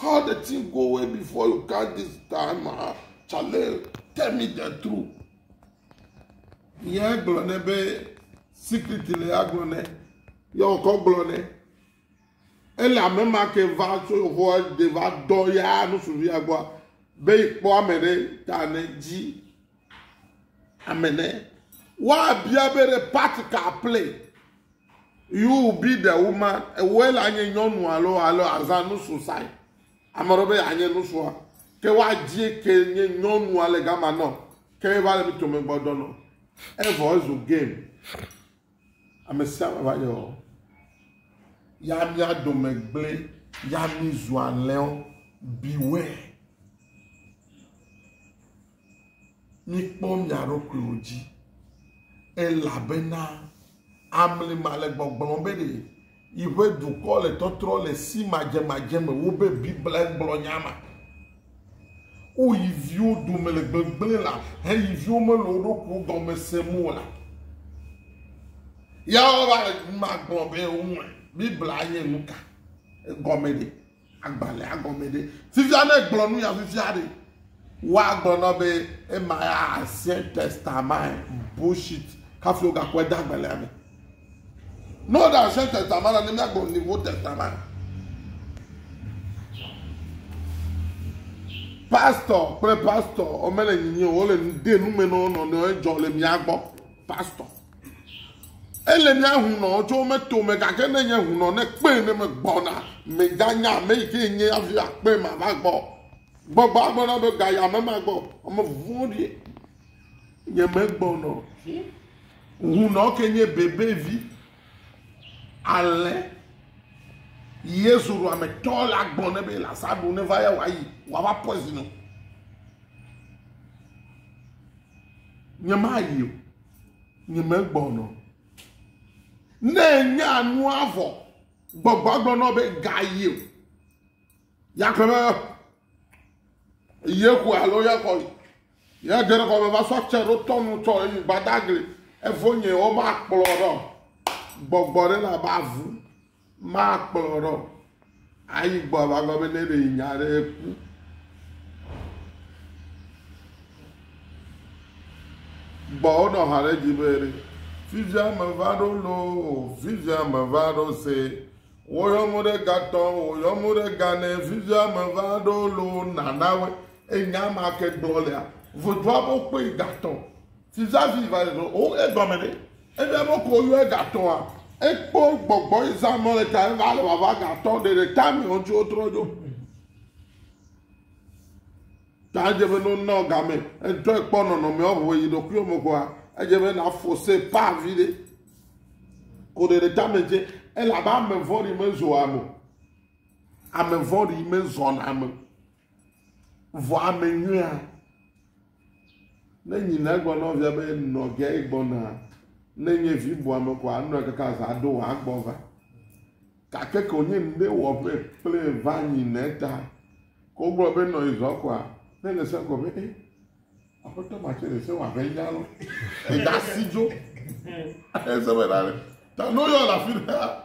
how the thing go away before you come this time ah chale tell me the truth yẹn gblɔ nɛ be secret le agblɔ nɛ yẹ wòkɔ gblɔ nɛ ele ame ma ke va tso yehowa de va dɔ ya nusuvia gbɔa be kpɔ ame ɖe ta ne dzi ame ne woabia be ɖe part ka play You be the woman, ewɔe la nye nyɔnu alo alo azã nusu sai. Ame ɖe be anye nusua. Ke wa dzi ke nye nyɔnu ale gama nɔ. Ke va le mito me gbɔdɔ nɔ. Evɔ ezu game. Ame sia ame va nye o. Ya mia dome gblẽ, ya mi zu alẽwo. Beware. Mikpɔ mia ɖokuiwo dzi, elabena amli ma le gbɔgblɔm be ɖe yiƒe dukɔ le tɔtrɔ le si madzemadze me wobe Biblia gblɔ nya ma. Wo yi viwo dome le gbegblẽ la he yi viwo mele wo ɖokuiwo gɔme sem o la, ya wova le nu ma gblɔ be woŋlɔe. Biblia nye nuka? Egɔme ɖe? Agbalẽa gɔme ɖe? Fifia ne gblɔ nu ya fifia ɖe, woagblɔ na be ema ya Ancien Testament bullshit hafi wogakɔe de agbalẽa me. Ne wole Ancien Testament la, ne míagblɔ Nouveau Testament. Pastor kple pastor womele nyinyi o, wole de nume na wo nɔnɔewo, edzɔ le mía gbɔ. Pastor. Ele ne hunɔ dzo me tome gake ne nye hunɔ ne kpee ne me gbɔna me ga nya ame yi ke nye avi akpee ma va gbɔ. Gbɔgbɔ agblɔ na be ga ya me ma gbɔ ame vɔn ɖi nye me gbɔnɔ. Hunɔ ke nye bebe vi ale Yesu ɖo ame tɔ la gbɔ ne be la sa ɖo ne va ya wa yi wa va poison. Nye ma yi o. nye megbɔnɔ. Ne nya nua vɔ, gbɔgbɔ gblɔnɔ be gayi o. Yakɔ be yeku alo yakɔ yi. Ya dze ɖe kɔme va sɔ tse ɖo tɔnu tsɔ eyi gbadagli. Evo nye wo ma kplɔ ɖɔ. Gbɔgbɔ ɖe na ba vu. Makplɔ ɖɔ ayi gbɔ ava gɔme nɛ be nya aɖe ku. Gbɔ wonɔ ha ɖe dzi be ɖe fifia meva ɖo loo, fifia meva ɖo se. Woyɔ mo ɖe gatɔ, woyɔ mo ɖe ganɛ, fifia meva ɖo loo nanawe. Enya ma ke gblɔ lea, vodoa bo kpe gatɔ. Sizazi va ɖeɖe o egɔme ɖe ebe ame ko yɔ egatɔa ekpɔ gbɔgbɔ eza nɔ le ta eva le vava gatɔ ɖeɖe ta me ŋuti wotrɔ dzo. Ta dze be no nɔ game etɔ ekpɔ nɔnɔme ɔvo yi ɖokui ɔme koa edze be na fose pa vi ɖe ko ɖeɖe ta me dze elabe ame vɔɖi me zoa mo. Ame vɔɖi me zɔna me. Vɔ ame nyuia, ne nyina egbɔ nɔvia be nɔvia ye gbɔna, ne nye vi bu ame ko anɔ kaka za ɖo wòagbɔ va. Gake ke wònye ŋɖe wɔ ƒe kple va nyina eta, ke wogblɔ be nɔ izɔ koa, ne le se gɔ be, e, aƒetɔ ma tse le se wɔ abe nya lɔ, ega si dzo. Ese be na ne, ta ne woyɔ le afi ɖeka.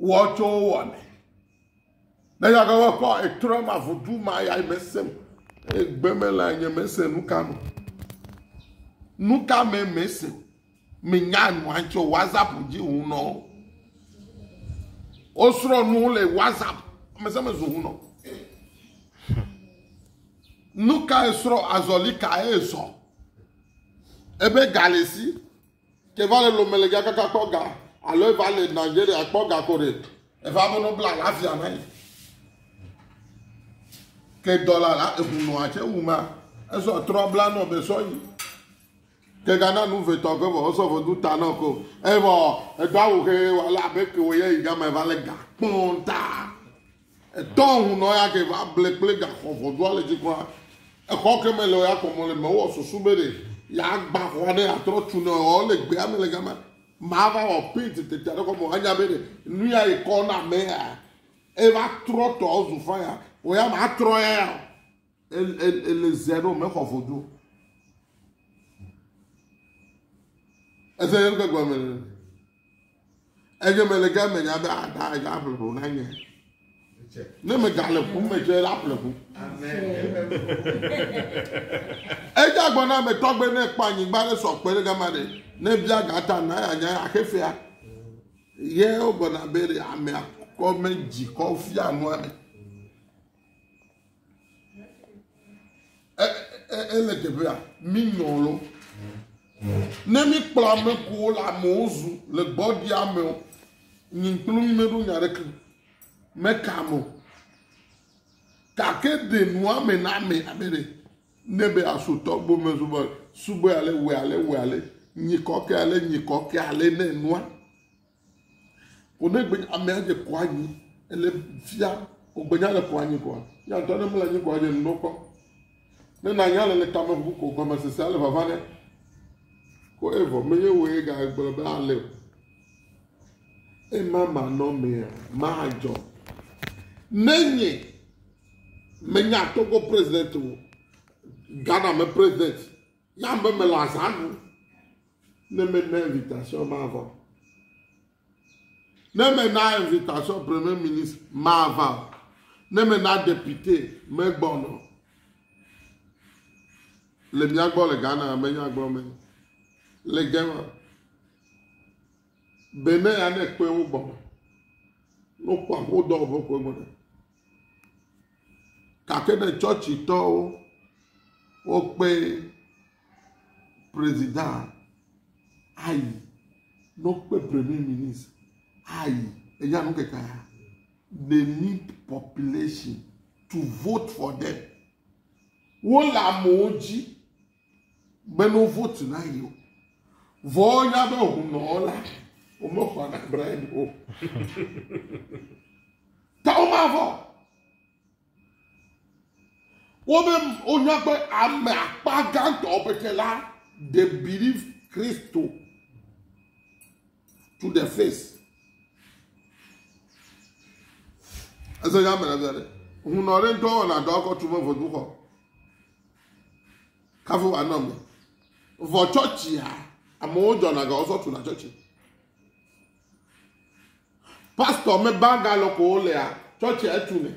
wɔ tso wo wɔ me. Ne yage wɔ kɔ etrɔ ma vodu ma ya me sem. Egbe me la nye me se nu ka me. Nu ka me me se. Me nya nu antso WhatsApp ji hu nɔ. O srɔ nu le WhatsApp me se me zu hu nɔ. Nu ka esrɔ azɔli ka ezɔ. Ebe galesi. Ke va le lome le gakaka kpɔ ga alo eva le Nigeria kpɔ ga ko ɖe. Eva be no bla lafia na yi. Ke dɔla la eŋu nɔ atse wu ma. Esɔ trɔ bla nɔ be sɔ yi. Ke gana nu vetɔ ke vɔ sɔ vɔ du ta nɔ ko. Evɔ edo awu xe wala be ke wo ye yi gama eva le ga kpɔn ta. Etɔ ŋu nɔ ya ke va ble kple gaxɔ ʋɔdua le dzi kura. Exɔ ke me le ya kɔ mɔ le me wɔ susu be ɖe ya gba xɔa ne ya trɔ tu nɔ ɔ le gbea me le gama. Ma va wɔ paint tete aɖe kɔ mɔ anya be ɖe nu ya yi kɔ na me ya e va trɔ tɔ zu faya o ya ma trɔ ya ya o. ele zea ɖo mexɔ vodzu o. Ese ye ŋutɔ gɔme le. Eye mele ge me nya be ada ah, ega aƒle ƒo na nye. Ne megale ƒu me tsɛ la ƒle ƒu. Edze agbɔ na me tɔgbe ne kpɔ anyigba ɖe sɔ kpe ɖe gama ɖe. Ne bia gata na ya nya axe fea. Ye wogɔna be ɖe amea kɔ me dzi kɔ fia nua me. ele teƒea mi nyɔ lo ne mi kplɔ ame ko le amewo zu le gbɔ di amewo nyi kplu mi meɖo nya ɖeke meka mo gake de nua me na ame ame ɖe ne be asotɔ gbɔ me zubɔ subɔ ale wɛ ale wɛ ale nyi kɔkɛ ale nyi kɔkɛ ale ne nua Ko ne gbe amea dze kɔ anyi ele fia ko gbe nya le kɔ anyi kɔa, ya ŋutɔ ne mele anyi kɔa dze ŋɖo kpɔ. Ne na nya le le tame ʋu ko gɔme sese ale vava ne. Ko evɔ me ye wo ye ga gblɔ be ale o. Ema ma nɔ mea ma dzɔ. Ne nye me nya Togo president o, Ghana me president, ya be mele azã ɖu. Ne mena invitation mava o. Ne mena invitation premier ministre mava o. Ne mena depute megbɔnɔ o. Le mía gbɔ le Ghana menya gblɔ me. Le Gema. Benin ya ne kpe wo gbɔnɔ. No kpɔ aƒo dɔ ƒe kpe gbɔnɔ. Gake ne tsɔtsitɔwo wokpe prezidant ayi, ne wokpe premier ministre ayi, enya nu keke ya. They need population to vote for them. Wole amewo dzi. Meno vote na yi o. Vɔ nya be hunɔ la, womexɔ na Brian o. Ta womavɔ. Wobe wonya be ame akpa gãtɔ pete la they believe Kristo to the face. Ese nya mele bia ɖe. Hunɔ ɖe ŋutɔ wɔna dɔ akɔtu me vodu xɔ. Kafu wa nɔ me. Vɔ tsɔtsia, amewo dzɔna ga wozɔ tuna tsɔtsi. Pastɔ me ba ga lɔ ko wolea, tsɔtsia etu ne.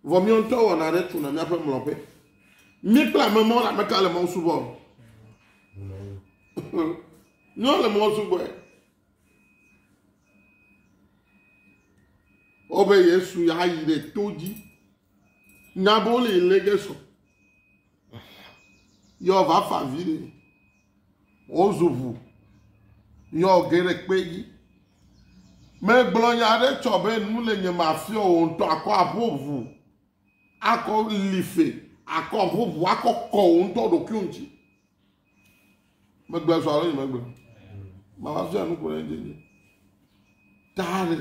Vɔ mi ŋutɔ wɔna ɖe tuna miaƒe mlɔƒe. Mi kple ame mɔ la meka le mɔ subɔ. Nyɔ le mɔ subɔ. Wobe Yesu ya yi ɖe to dzi. Naboli lege sɔ. Yɔ va fa vi ni. O zuvu. Yɔ ge ɖe kpe yi. Me gblɔ ya ɖe tsɔ be nu le nye ma fiɔ o ŋutɔ akɔ abo vu. Akɔ life. Akɔ abo vu. Akɔ kɔ o ŋutɔ ɖo kio ŋuti. megbe sɔ alo nyemegbe mama fia nu ko ɖe dzi ta ɖe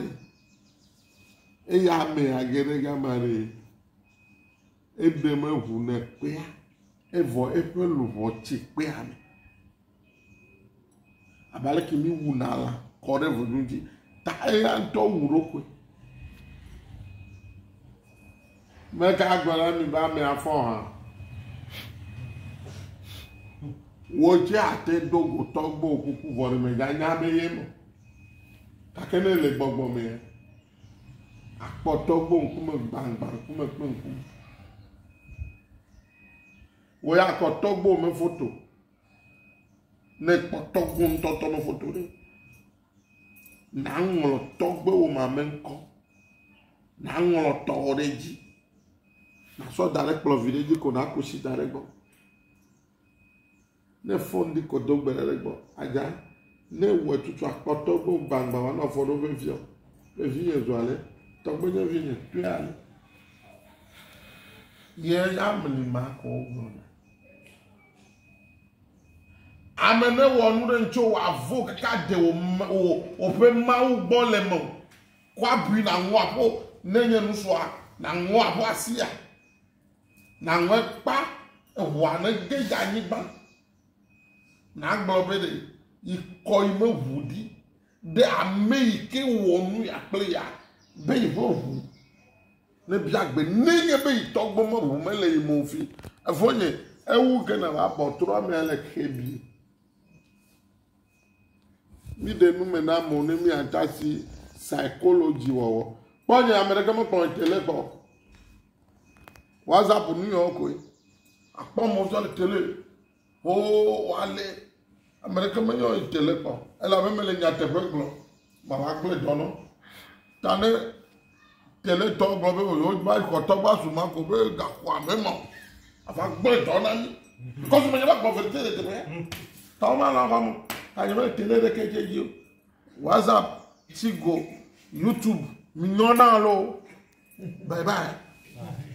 eye ame age ɖe gama ɖe eɖe meʋu ne kpea evɔ eƒe luʋɔ tsi kpea me. abe aleke mi wu na lã kɔ ɖe ʋu nu dzi ta eya ŋutɔ wu ɖo koe me ka gblɔ na mi be ame afɔ hã wo dze ate do gotɔ gbɔ kuku vɔ ɖe me gã nya be ye me gake ne le gbɔgbɔ me akpɔtɔ gbɔ ŋkume gbangba ŋkume kple ŋkume wo ya kɔtɔ gbɔ me foto. Ne kpɔ tɔgbu ŋutɔ tɔ me foto ɖe, nàŋlɔ tɔgbuiwò ma me ŋkɔ. Nàŋlɔ tɔwò ɖe dzi. Nàsɔ da ɖe kplɔ̃ vi ɖe dzi ko nàku si da ɖe egbɔ. Ne fon ɖi ko do gbe ɖa ɖe egbɔ. Adza, ne wòe tutu akpɔ tɔgbuiwò gbagbã wòanɔ afɔ ɖo veviɔ, be vinye zu ale, tɔgbuinye vinye kpɔe ale. Ye ya mli ma ko wogblɔna. Ame ne wɔ nu ɖe ŋutso wɔ avo kaka de wò wò ƒe mawu gbɔ le me o. Kɔ abui na ŋɔ aƒo ne nye nu sua na ŋɔ aƒo asia. Na ŋɔ ekpa eʋua ne ge dza anyigba. Na gblɔ be ɖe yi kɔ yi me ʋu ɖi ɖe ame yi ke wɔ nu ya kple ya be yi ʋe ʋu. Nebia gbe nenye be yi tɔ gbɔ mɔʋu me le yi mo fi. Evo nye ewu ge na va bɔ trɔ me ale xe bi. Mi de nu me na mo ne mi atasi psychology wɔwɔ. Kpɔ nye ame ɖeke me kpɔ tele kpɔ. WhatsApp nu yɔ koe. Akpɔ mo zɔ le tele. Hoo woalé, ame ɖeke menye o yi te le kpɔ, elabe mele nyateƒe gblɔ, mava gblɔe dɔ nɔ. Ta ne teletɔ gblɔ be wòva yi xɔtɔ va zu ma ko be gakɔ ame ma o, ava gblɔe dɔ na mí. Kɔsu menye va gblɔ verite le teƒe ya. Ta woma lã va mo, ta nye mele tele ɖeke dze dzi o. WhatsApp, Tigo, YouTube, mi nyɔna loo. Bye bye.